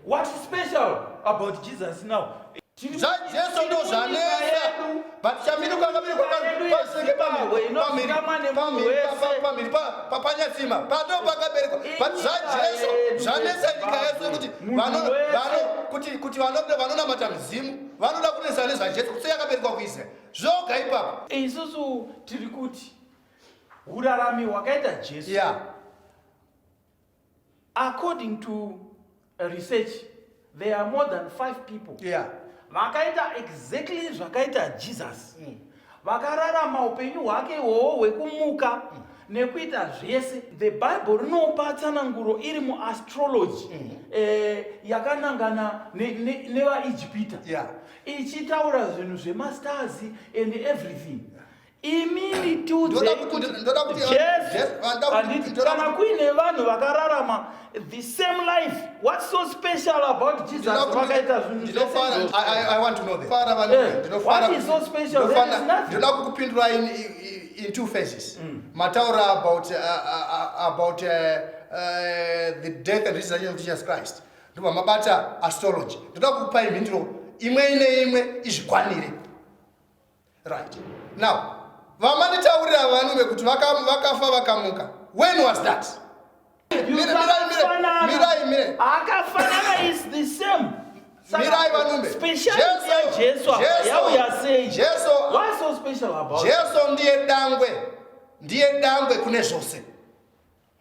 What is special about Jesus now? zvajesu ndo zvanetsa but chamiruka kamiri kwakasvike pamhiri papanyatsima pado pakaberekwa but zvajesu zvanetsa nyika yese kuti kuti kuti vanoda vanonamata midzimu vanoda kunetsa nezvajesu kutse yakaberekwa kuisrael zvoga ipapo isusu tiri kuti hurarami hwakaita jesu yeah. according to research there are more than five people yeah. vakaita exactly zvakaita jesus mm. vakararama upenyu hwake iwowo hwekumuka mm. nekuita zvese the bible rinopa tsananguro iri muastrology mm. eh, yakanangana nevaijipita ne, ne yeah. ichitaura zvinhu zvemastars and everything yeah imimi tiudzekana kuine vanhu vakararama the same life what's so special about jesus vakaita zvinhundoda kukupindura in, in two phases mm. mataura about, uh, uh, uh, about uh, uh, the death and resurrection of jesus christ ndobva mabata astrology ndoda kukupai mhinduro imwe ine imwe izvikwanire Right. Now, vamanitaurira vanhu vekuti vakafa vakamuka. When was that? Akafanana is the same. Mirai vanumbe. Jesu yauya sei? Jesu. What's so special about? Jesu ndiye dangwe. Ndiye dangwe kune zvose.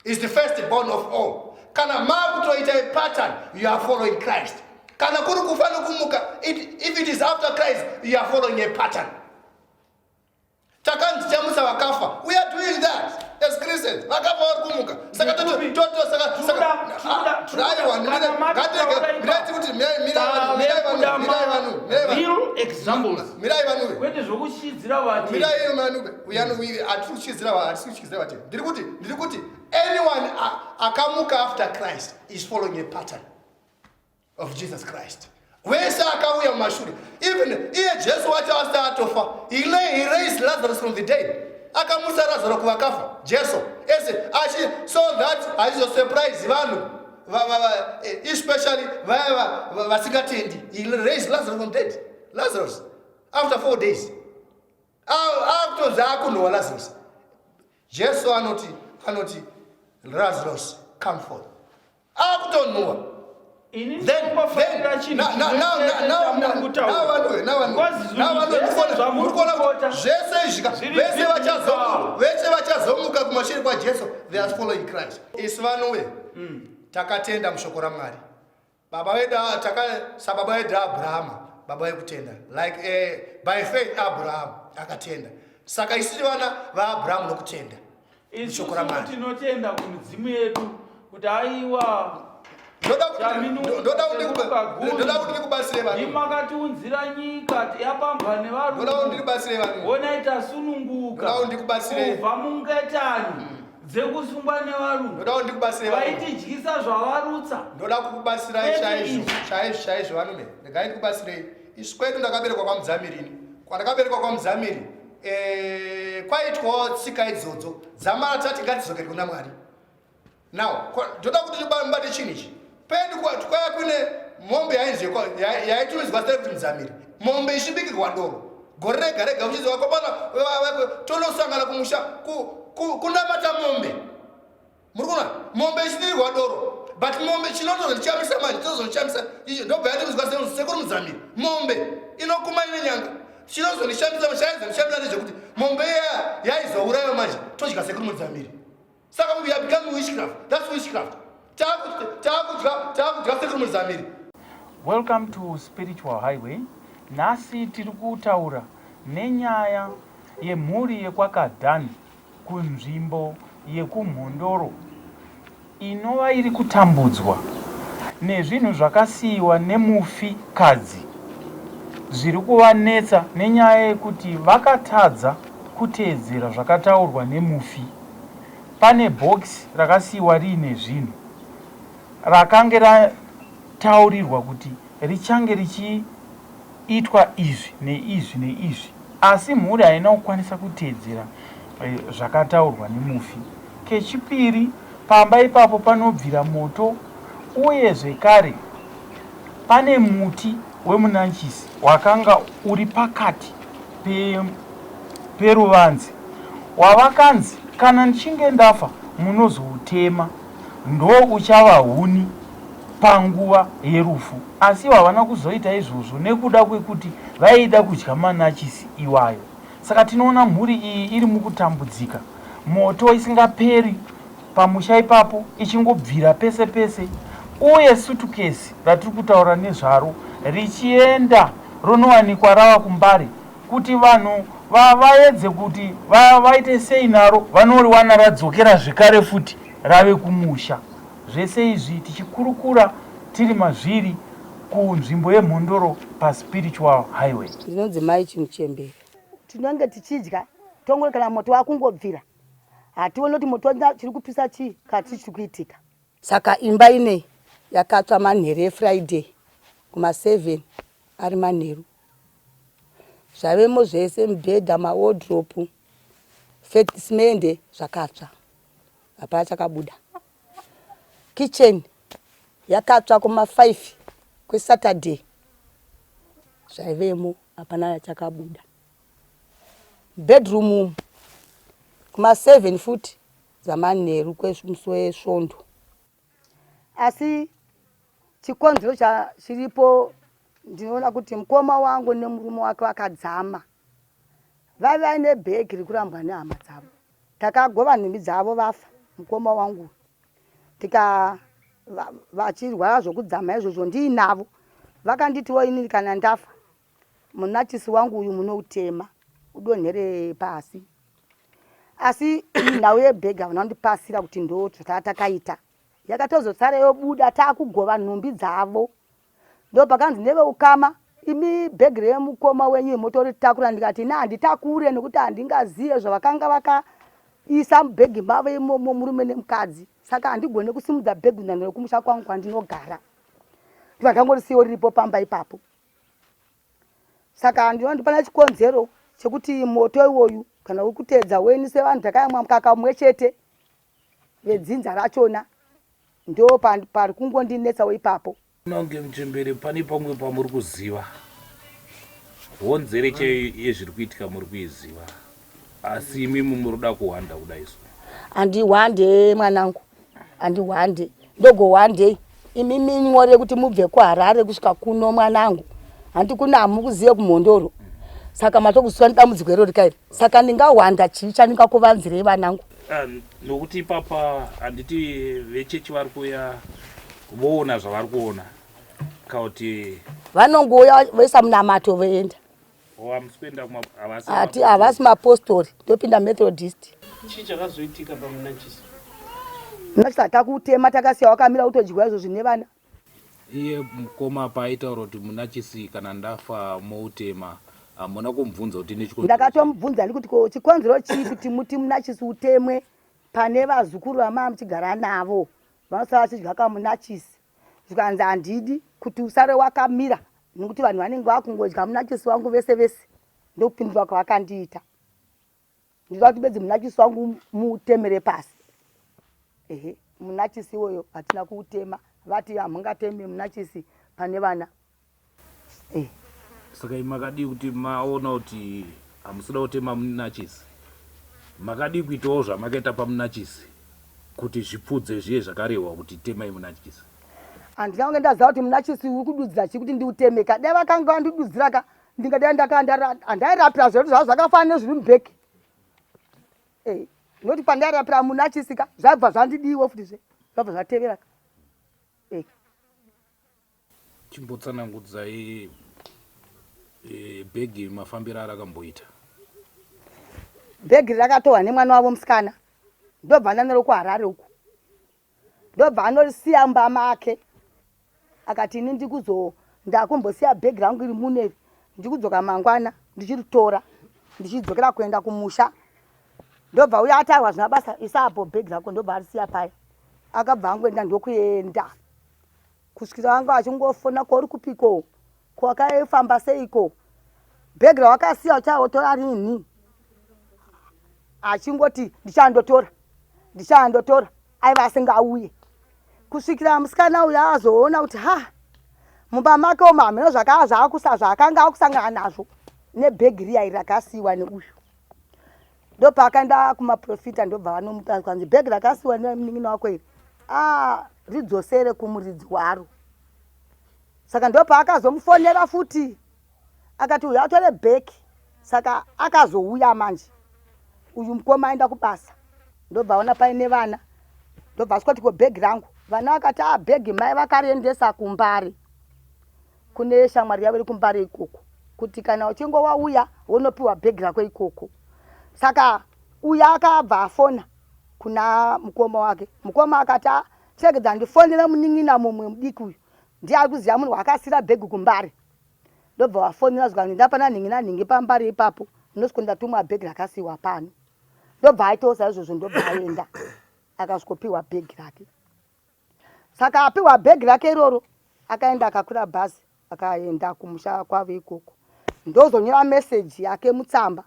is the first born of all kana makutoita a pattern you are following christ kana kuri kufa nokumuka if it is after christ you are following a pattern takanzi chamutsa vakafa we are doing that as christians vakafa vari kumuka saka totoaiwangatege kuti mirai vanhu mirai vanhu uyanowivi atiri kuchidzira vatiri kuchidzira vatiri ndiri kuti ndiri kuti anyone akamuka after christ is following a pattern of jesus christ wese akauya mumashure even iye jesu wacho asati atofa he, lay, he raised lazarus from the dead akamusa razaro kuvakafa jesu ese achi so that haizosurprise vanhu eh, especially vaya vasingatendi he raised lazarus from dead lazarus after four days akutonzi akunhuwa lazarus jesu anoti anoti lazarus come forth akutonhuwa zvese izvika vese vachazomuka vese vachazomuka kumashure kwajesu they are following christ isu vanove mm. takatenda mushoko ramwari Baba vedu ah, taka sababa vedu Abrahama baba vekutenda like eh, by faith Abraham akatenda saka isiri vana vaAbraham nokutenda ishoko ramwari tinotenda kumidzimu yedu kuti aiwa ndoda kuti ndikubatsire vanhu imakatiunzira nyika yapambwa nevarungu ndoda kuti ndikubatsire vanhu onai tasununguka ndoda kuti ndikubatsire kubva mungetani mm. dzekusungwa nevarungu ndoda kuti ndikubatsire vaitidyisa zvavarutsa ndoda kukubatsirai chaizvo chaizvo chaizvo vanume regai ndikubatsirei isu kwedu ndakaberekwa kwamudzamiri ini kwandakaberekwa kwamudzamiri eh, kwaitwawo tsika idzodzo dzamara tati ngadzizokere kuna mwari now ndoda kuti ndibate chinhu ichi Pedu kwaya kune mombe yainzi yaitumidzwa sei kuti mudzamiri mombe ichibikirwa ndoro gore rega rega uchinzi vakomana tonosangana kumusha kunamata mombe muri kuona mombe ichidirwa doro but mombe chinotozochamisa manje tozochamisa icho ndobva yatiudzwa sekuru mudzamiri mombe inokuma ine nyanga chinozondishamisa chaizondishamisa nezvekuti mombe iya yaizourayiwa manje todya sekuru mudzamiri saka we are becoming witchcraft that's witchcraft taakudya sekuru muzamiri welcome to spiritual highway nhasi tiri kutaura nenyaya yemhuri yekwakadhani kunzvimbo yekumhondoro inova iri kutambudzwa nezvinhu zvakasiyiwa nemufi kadzi zviri kuvanetsa nenyaya yekuti vakatadza kuteedzera zvakataurwa nemufi pane bhokisi rakasiiwa riine zvinhu rakange rataurirwa kuti richange richiitwa izvi neizvi neizvi asi mhuri haina kukwanisa kuteedzera eh, zvakataurwa nemufi. Kechipiri, pamba ipapo panobvira moto uye zvekare pane muti wemunanchisi wakanga uri pakati peruvanzi wavakanzi kana ndichinge ndafa munozoutema ndo uchava huni panguva yerufu asi havana kuzoita izvozvo nekuda kwekuti vaida kudya manachisi iwayo saka tinoona mhuri iyi iri mukutambudzika moto isingaperi pamusha ipapo ichingobvira pese pese uye sutukesi ratiri kutaura nezvaro richienda ronowanikwa rava kuMbare kuti vanhu vaedze kuti vaite sei naro vanoriwana radzokera zvekare futi rave kumusha. Zvese izvi tichikurukura tiri mazviri kunzvimbo yeMhondoro paSpiritual Highway. Ndinonzi Mai Chimuchembere. Tinenge tichidya tongori kana moto wakungobvira. hatione kuti moto wanga chiri kupisa chii kati chiri kuitika saka imba inei yakatsva manheru efriday kuma 7 ari manheru zvavemo zvese mibhedha mawodropu fetismende zvakatsva hapana chakabuda kitchen yakatsva kuma 5 kwesaturday zvaivemo hapana chakabuda Bedroom umu kuma seven futi dzamanheru kwesvondo asi chikonzero chiripo ndinoona kuti mukoma wangu nemurume wake vakadzama vaive vaine bhegi rekurambwa nehama dzavo takagova nhumbi dzavo vafa mukoma wangu tika vachirwara zvekudzama izvozvo ndiinavo vakanditiwo inini kana ndafa Munachisi wangu uyu munoutema udonhere pasi. Asi nhau yebhegi havana kundipasira kuti ndotsva taa takaita. Yakatozotsara yobuda taakugova nhumbi dzavo. Ndopakanzi neveukama imi bhegi remukoma wenyu motoritakura ndikati ini handitakure nekuti handingazive zvavakanga vakaisa mubhegi mavo imomo murume nemukadzi saka handigone kusimudza bhegi kunyange rekumusha kwangu kwandinogara ndikangango risiyo riripo pamba ipapo saka ndinoona kuti pana chikonzero chekuti moto iwoyu kana uri kuteedza weni sevanhu takayamwa mukaka umwe chete vedzinza rachona ndo pari kungondinetsawo ipapo nonge muchembere pane pamwe pamuri kuziva honzere chaiyo yezviri kuitika muri kuiziva asi imi mumuroda kuhwanda kudai so handihwande mwanangu handihwande ndogohwandei imi minyore kuti mubve kuharare kusvika kuno mwanangu handi kuna hamukuzive kumhondoro saka matokusiwa nedambudziko iro rika iri saka ndingahwanda chii chandingakuvanzirei vanangu ah, nokuti ipapa handiti vechechi vari kuuya voona zvavari kuona kauti vanongouya voisa munamato voenda hati havasi mapostori ndopinda methodist chii chakazoitika pamunachisi munachisa takutema takasiya wakamira kutodyiwa izvo zvine vana iye mukoma paaitaura kuti munachisi kana ndafa moutema hamuna kumubvunza kuti nechikonzero ndakatomubvunza ndikuti ko chikonzero chii kuti muti munachisi utemwe pane vazukuru vamava muchigara navo vanosava vachidya kamunachisi zvikanzi handidi kuti usare wakamira nekuti vanhu vanenge vakungodya munakisi wangu vese vese ndokupindura kwavakandiita ndida kuti bedzi munakisi wangu mutemere pasi ehe munakisi iwoyo hatina kuutema vati hamungateme munakisi pane vana Hey. Saka imi makadii kuti maona kuti hamusida kutema munachisi? Makadii kuitawo zvamakaita pamunachisi kuti zvipfudze zviye zvakarehwa kuti temai munachisi? Handina kunge ndaziva kuti munachisi uri kududzira chii kuti ndiuteme ka. Dai vakanga vandidudzira ka ndingadai ndaka handairapira zvedu zvavo zvakafanana nezviri mubheki. Hey. Noti pandairapira munachisi ka zvaibva zvandidiiwo futi zve zvabva zvatevera ka. Hey. Chimbotsanangudzai eh, bhegi mafambiro arakamboita. Bhegi rakatorwa nemwana wavo musikana ndobva ananero kuharare uku ndobva anorisiya mumba make akati ini ndikuzo ndakumbosiya bhegi rangu iri muneri ndikudzoka mangwana ndichiritora ndichidzokera kuenda kumusha ndobva uya atarwa zvina basa isaapo bhegi rako ndobva arisiya paya akabva angoenda ndokuenda kusvikira anga achingofona ko uri kupiko ko wakaifamba seiko bhegi rawakasiya uchaotora rinhi achingoti ndichandotora ndichandotora aiva asingauye kusvikira musikana uyo azoona kuti ha mumba make umo hameno zvakaa zvaakusa zvaakanga akusangana nazvo nebhegi riya iri rakasiyiwa neuyu ndopaakaenda kumaprofita ndobva vanomuta kwanzi bhegi rakasiwa nemunin'ina wako iri ah, ridzosere kumuridzi waro saka ndopaakazomufonera futi akati uyu atore bheki saka akazouya manje uyu mukoma aenda kubasa ndobva aona paine vana ndobva asvika kuti ko bhegi rangu vana vakati a ah, bhegi mai vakariendesa kumbari kune shamwari yavo iri kumbare ikoko kuti kana uchinge wauya wonopiwa bhegi rako ikoko saka uya akabva afona kuna mukoma wake mukoma akati ah, chekedza ndifonera munin'ina mumwe mudiki uyu ndiye ari kuziva munhu waakasira bhegi kumbare ndobva vafonera zvikanzi ndapana nhingi nanhingi pambare ipapo ndosviko ndatumwa bhegi rakasiyiwa pano ndobva aitawo saizvozvo ndobva aenda akasvikopiwa bhegi rake Saka apiwa bag rake iroro akaenda akakwira bhazi akaenda kumusha kwavo ikoko. Ndozonyora message yake mutsamba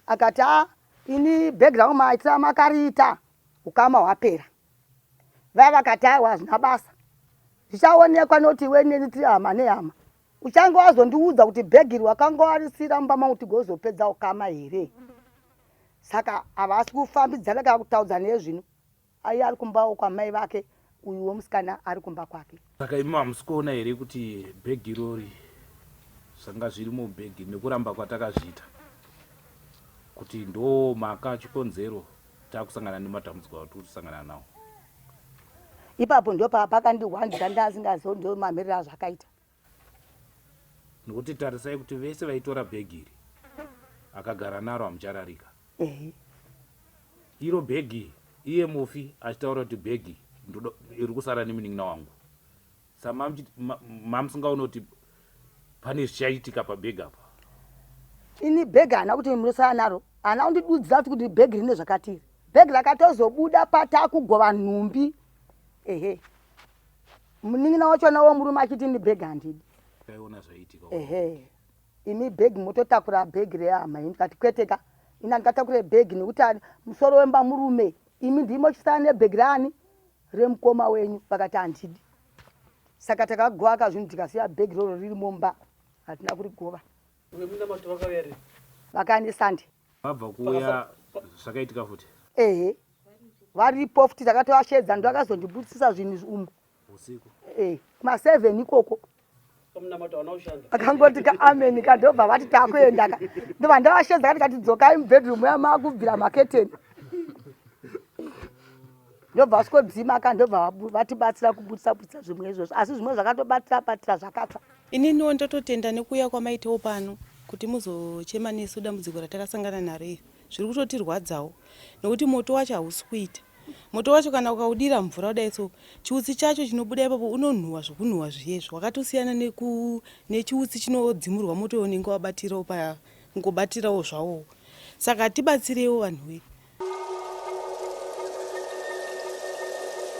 akati a ah, ini bag rangu maitira makariita ukama hwapera. Vaya vakati aiwa hazvina basa zvichaonekwa noti iwe neni tiri hama nehama uchange wazondiudza kuti bhegi iri wakanga warisira mumba mangu tigozopedza ukama here saka havasi kufambidzana kana kutaudza nezvino Ayi ari kumbawo kwamai vake uyuwo musikana ari kumba kwake. Saka imi hamusi kuona here kuti bag irori zvanga zviri mubag iri nekuramba kwatakazviita kuti ndo maka chikonzero takusangana nematambudziko atiri kusangana nawo. Ipapo ndopaakandihwandira ndanga ndisingazii kuti ndomamiriro azvakaita. Nokuti tarisai kuti vese vaitora bhegi iri akagara naro hamuchararika. Ehe. Iro bhegi iye mufi achitaura kuti bhegi ndoda iri kusara nemunin'ina wangu. Samamuchiti ma- mamusingaone kuti pane zvichaitika pabhegi apa. Ini bhegi haana kuti munosara naro. Haana kundidudzira kuti kuti bhegi rine zvakati iri. Bhegi rakatozobuda pataakugova nhumbi. Ehe. munin'ina wacho anawo murume achiti ini bhegi handidi taiona zvaiitika ehe imi bhegi mototakura bhegi rehama ini ndikati kwete ka ini handikatakure bhegi nekuti ani- musoro wemba murume imi ndimi mochisara nebhegi raani remukoma wenyu vakati handidi saka takagovaka zvinhu tikasiya bhegi roro riri mumba hatina kurigova vakandisunday vabva kuuya zvakaitika futi ehe varipo futi takatovashedza ndo akazondibudisisa zvinhu umu usiku eh kuma 7 ikoko akangoti ka amen ka ndobva vati takuenda ka ndobva ndavashedza kati kati dzokai mubedroom ya makubvira maketeni ndobva vasikodzima ka ndobva vatibatsira kubudisa budisa zvimwe izvozvo asi zvimwe zvakatobatira batira zvakatsva ininiwo ndototenda nekuuya kwamaitawo pano kuti muzochema nesu dambudziko ratakasangana naro iri zviri kutotirwadzawo nekuti moto wacho hausi kuita moto wacho kana ukaudira mvura kudai so chiutsi chacho chinobuda ipapo unonhuwa zvokunhuwa zviyezvo wakatosiyana nechiutsi chinodzimurwa moto unenge wabatirawo pangobatirawo zvawowo saka tibatsireiwo vanhu vedu